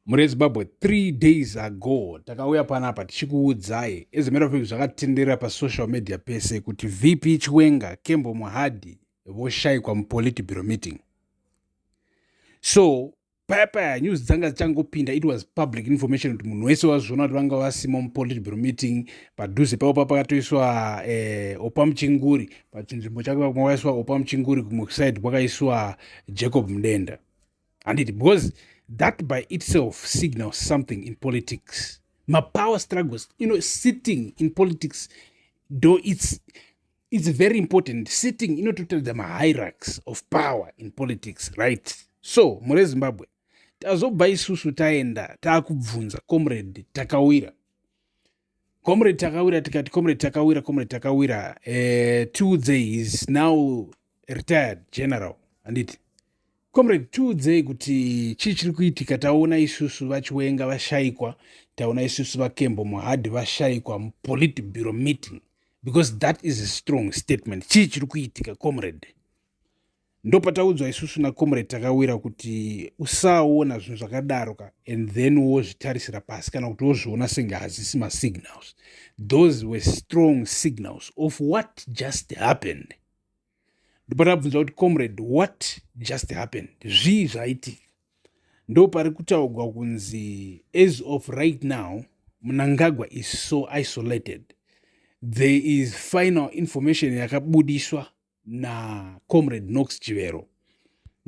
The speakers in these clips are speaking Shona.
Mhuri yeZimbabwe, three days ago takauya panapa tichikuudzai as a matter of fact zvakatenderera pasocial media pese kuti VP Chiwenga, Kembo Muhadi voshaikwa muPolitburo meeting. So paya paya news dzanga dzichangopinda it was public information kuti munhu wese wazviona kuti vanga vasimo mupolitburo meeting padhuze pavo pa pakatoiswa eh, opa muchinguri pachinzvimbo chake pakwaiswa opa muchinguri kumwe kuside kwakaiswa jacob mudenda handiti because that by itself signals something in politics mapower struggles you know sitting in politics though it's it's very important sitting inototaridza mahierarchs of power in politics right so mure zimbabwe tazobva isusu taenda taakubvunza comrade takawira comrade takawira tikati comrade takawira comrade takawira eh, tiudzei is now retired general handiti comrade tiudzei kuti chii chiri kuitika taona isusu vachiwenga vashaikwa taona isusu vakembo muhadhi vashaikwa mupoliti bureau meeting because that is a strong statement chii chiri kuitika comrade ndopataudzwa isusu nacomrade takawira kuti usaona zvinhu zvakadaro ka and then wozvitarisira pasi kana kuti wozviona senge hazisi masignals those were strong signals of what just happened ndopatabvunza kuti comrade what just happened zvii zvaitika ndo pari kutaugwa kunzi as of right now munangagwa is so isolated there is final information yakabudiswa nacomrade nox chivero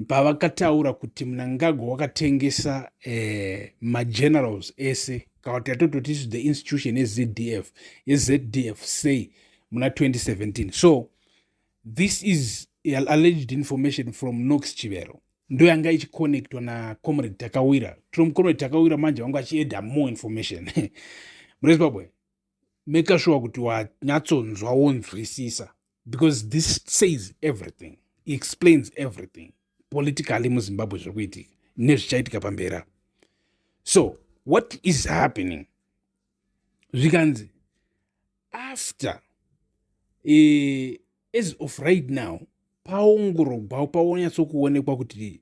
pavakataura kuti munangagwa wakatengesa eh, magenerals ese kana kuti yatototi isu the institution yezf yezdf sei muna 2017 so this is alleged information from nox chivero ndo yanga ichiconnectwa nacomrade takawira tino mucomrade takawira manje vanga vachieda more information murezimbabwe make sure kuti wanyatsonzwa wonzwisisa because this says everything explains everything politically muzimbabwe zviri kuitika nezvichaitika pamberi apo so what is happening zvikanzi after uh, as of right now paongorogwa paonyatsokuonekwa kuti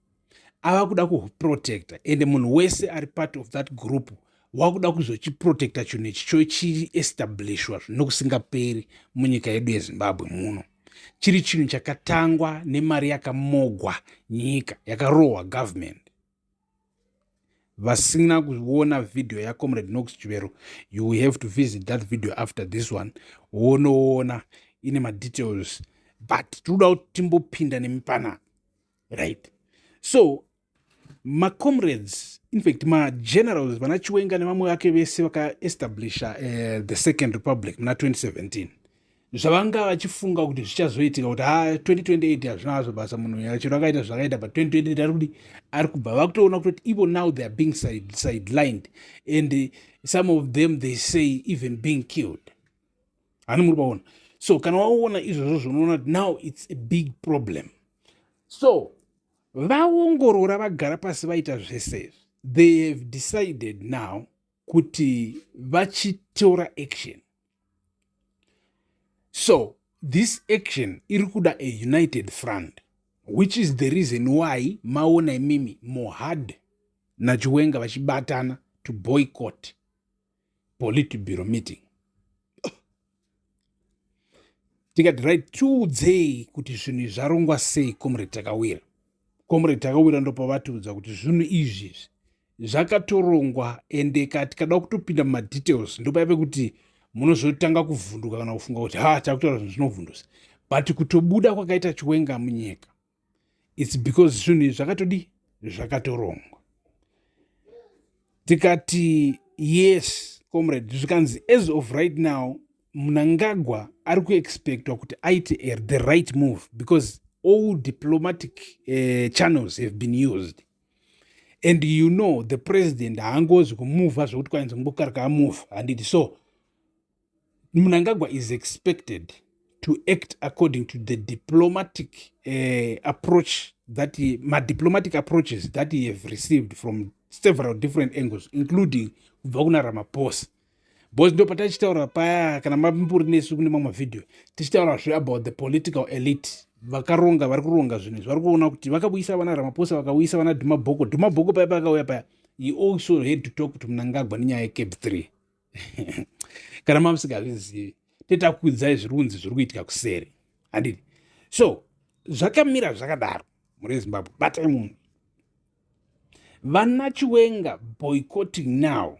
ava kuda kuprotecta ende munhu wese ari part of that group wakuda kuzochiprotecta chinhu ichi chochiestablishwa zvino kusingaperi munyika yedu yezimbabwe muno chiri chinhu chakatangwa nemari yakamogwa nyika yakarohwa government vasina kuona vhidhiyo yacomrade nox chivero you will have to visit that video after this one wonoona ine madetails but tinoda kuti timbopinda nemipanana right so macomrades infact magenerals vana chiwenga nevamwe vake vese vakaestablisha uh, eh, the second republic muna 2017 zvavanga vachifunga kuti zvichazoitika kuti ha ah, 2028 hazvina hazvo basa munhu uya chero akaita zvakaita but 2028 ari kudi ari kubva vakutoona kutoti even now they are being sidelined and some of them they say even being killed hani muri paona so kana waona izvozvo zvonoona kuti now its a big problem so vaongorora vagara pasi vaita zvese izvi they have decided now kuti vachitora action so this action iri kuda a united front which is the reason why maona imimi mohad nachiwenga vachibatana to boycott politburo meeting tikati right tiudzei kuti zvinhu izvi zvarongwa sei comrade takawira comrade takawira ndopavatiudza kuti zvinhu izvi izvi zvakatorongwa ende ka tikada kutopinda mumadetails ndopaive kuti munozotanga kuvhunduka kana kufunga kuti ha takutaura zvinhu zvinovhundusa but kutobuda kwakaita chiwenga munyika its because zvinhu izvi zvakatodii zvakatorongwa tikati yes comrade zvikanzi as of right now mnangagwa ari kuexpectwa kuti aite er the right move because all diplomatic uh, channels have been used and you know the president haangozi kumuva zvekuti kwainzi ngokarika amuva handiti so Mnangagwa is expected to act according to the diplomatic uh, approach that he, ma diplomatic approaches that he have received from several different angles including kubva kuna ramaphosa bcause ndo patachitaura paya kana mamburi nesu kune mamwe vhidhiyo tichitaura zve about the political elite vakaronga vari kuronga zvinhu izvi vari kuona kuti vakauyisa vana ramaphosa vakauyisa vana dhumabhoko dhumabhoko paya paakauya paya he also had to talk to mnangagwa nenyaya yecape three kana mamusingazvizivi tetakuudzai zviri kunzi zviri kuitika kuseri handiti so zvakamira zvakadaro muri zimbabwe batai munhu vana chiwenga boycotting now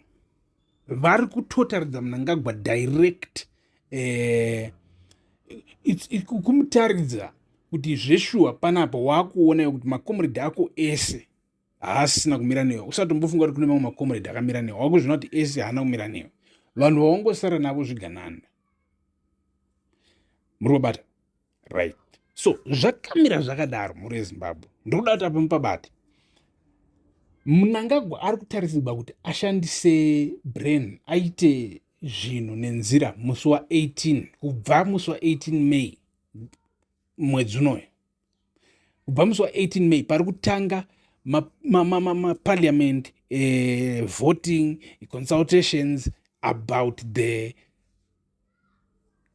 vari kutotaridza munangagwa direct eh, kumutaridza kuti zveshuwa panapa waakuona kuti makomredi ako ese haasina kumira newe usati umbofunga kuti kune mamwe makomuredhi akamira newe wakuzvina kuti ese haana kumira newe vanhu vawangosara navo zviganana muri kubata right so zvakamira zvakadaro mhuri yezimbabwe ndokuda kuti apa mupabate munangagwa ari kutarisirwa kuti ashandise brain aite zvinhu nenzira musi wa18 kubva musi wa18 may mwedzi unoyo kubva musi wa18 may pari kutanga maparliament ma, ma, ma eh, voting consultations about the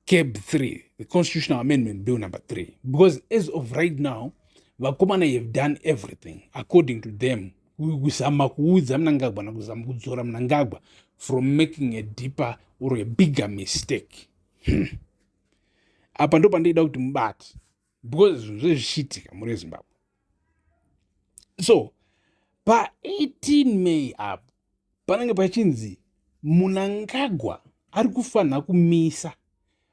cab 3 the constitutional amendment bill number 3 because as of right now vakomana have done everything according to them kuzama kuudza mnangagwa nakuzama kudzora mnangagwa from making a deeper or a bigger mistake hmm. apa ndo pandoida kuti mubati because zvinhu zvezvichiitika muri vezimbabwe so pa18 may apo panenge pachinzi munangagwa ari kufanira kumisa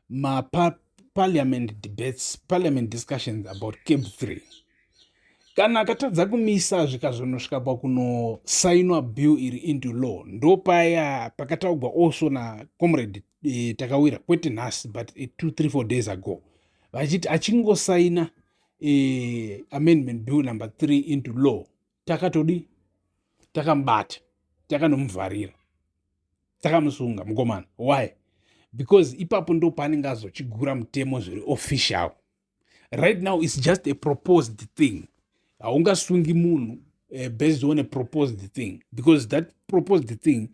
maparliament debates parliament discussions about cab 3 kana akatadza kumisa zvikazonosvika pakunosainwa bill iri into law ndopaya pakataugwa also nacomrade e, takawira kwete nhasi but e, two three four days ago vachiti achingosaina e, amendment bill number three into law takatodi takamubata takanomuvharira takamusunga mukomana why because ipapo ndo paanenge azochigura mutemo zviri official right now its just a proposed thing haungasungi munhu uh, based on a proposed thing because that proposed thing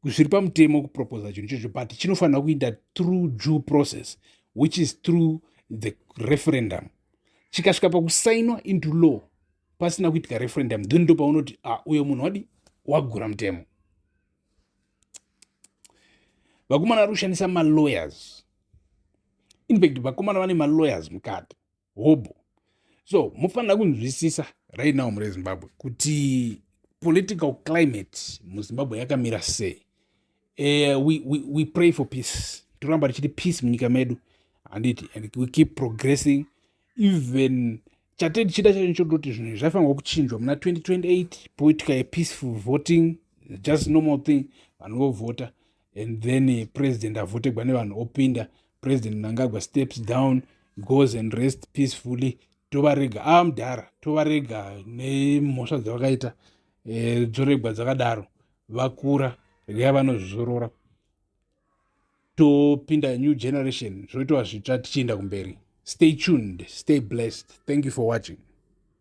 zviri pamutemo kuproposa chinhu chocho but chinofanira kuita through due process which is through the referendum chikasvika pakusainwa into law pasina kuitika referendum then ndo paunoti ah, uyo munhu wadi wagura mutemo vakomana vari kushandisa malawyers infact vakomana vane malawyers mukati hobho so mufanira kunzwisisa right now mure zimbabwe kuti political climate muzimbabwe yakamira sei uh, we, we, we pray for peace toramba tichiti peace munyika medu handiti and we keep progressing even chate tichida chacho chodoti zvinhu izvi zvaifanirwa kuchinjwa muna 2028 poitika yepeaceful voting just normal thing vanhu vovhota and then eh, president avhotegwa nevanhu opinda president mnangagwa steps down goes and rest peacefully tovarega ava ah, mudhara tovarega nemhosva dzavakaita eh, dzoregwa dzakadaro vakura regai vanozvizorora topinda new generation zvoitwa zvitsva tichienda kumberi stay tuned stay blessed thank you for watching